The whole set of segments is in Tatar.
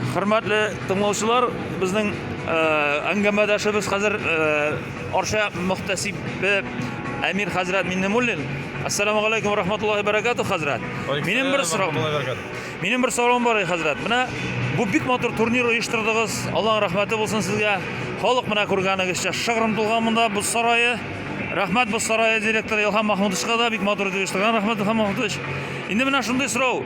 Хөрмәтле тыңлаучылар, безнең э, әңгәмәдәшебез хәзер э, Арча мөхтәсибе Әмир хәзрәт Миннемуллин. Ассаламу алейкум ва рахматуллахи баракату хәзрәт. Минем бер сорау. Минем бер сорауым бар, хәзрәт. Менә бу бик матур турнир оештырдыгыз. Аллаһның рәхмәте булсын сезгә. Халык менә күргәнегезчә шыгрым тулган монда бу сарае. Рәхмәт бу сарае директоры Илһам Махмудовичка да бик матур итеп оештырган. Рәхмәт Илһам Махмудович. Инде менә шундый сорау.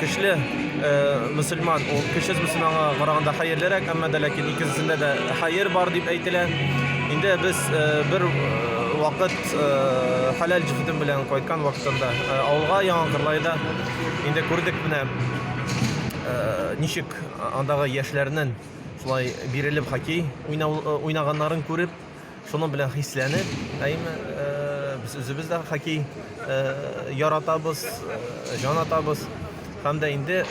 Көчле мөселман, ул көчсез мөселманга караганда хәерлерәк, әмма дә ләкин икесендә дә хәер бар дип әйтелә. Инде без бер вакыт хәләл җефетем белән кайткан вакытында авылга Яңа Кырлайда инде күрдек менә ничек андагы яшьләрнең шулай бирелеп хоккей уйнаганнарын күреп, Шуның белән хисләнеп, әйме, без үзебез дә хоккей яратабыз, җан атабыз. Һәм дә инде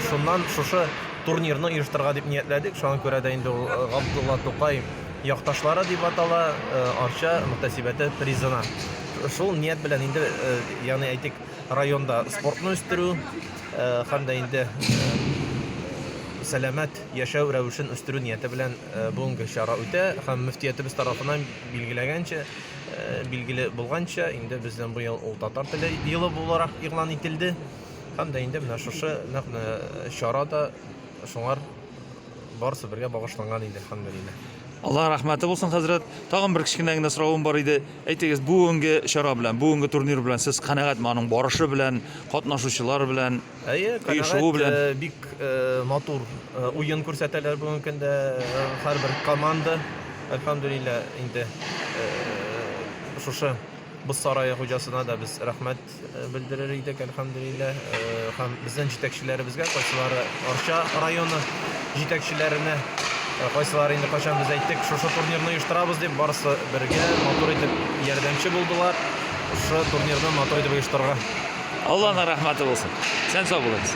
шуннан шушы турнирны оештырырга дип ниятләдек. Шуңа күрә дә инде ул Габдулла Тукай якташлары дип атала, Арча мөхтәсибәте призына. Шул ният белән инде, ягъни әйтик, районда спортны үстерү һәм дә инде сәламәт яшәү рәвешен үстерү нияте белән бүгенге чара үтә һәм мөфтиятебез тарафыннан билгеләгәнчә, билгеле булганча, инде бездән бу ел ул татар теле елы буларак игълан ителде һәм дә инде менә шушы нәкъ менә чара да шуңар барысы бергә багышланган иде, әлхәмдүлилләһ. Аллаһ рәхмәте булсын, хәзрәт. Тагын бер кечкенә генә соравым бар иде. Әйтегез, бүгенге чара белән, бүгенге турнир белән сез канәгатьме, аның барышы белән, катнашучылар белән? Әйе, канәгать, бик матур уен күрсәтәләр бүгенге көндә һәрбер команда. Әлхәмдулилла, инде шушы Боз сарае хуҗасына да без рәхмәт белдерер идек, әлхәмдулилла. Һәм безнең җитәкчеләребезгә, кайсылары Арча районы җитәкчеләренә, кайсылары инде кайчан без әйттек, шушы турнирны оештырабыз дип, барысы бергә матур итеп ярдәмче булдылар. Шушы турнирны матур итеп оештырырга. Алланың рәхмәте булсын. Исән-сау булыгыз.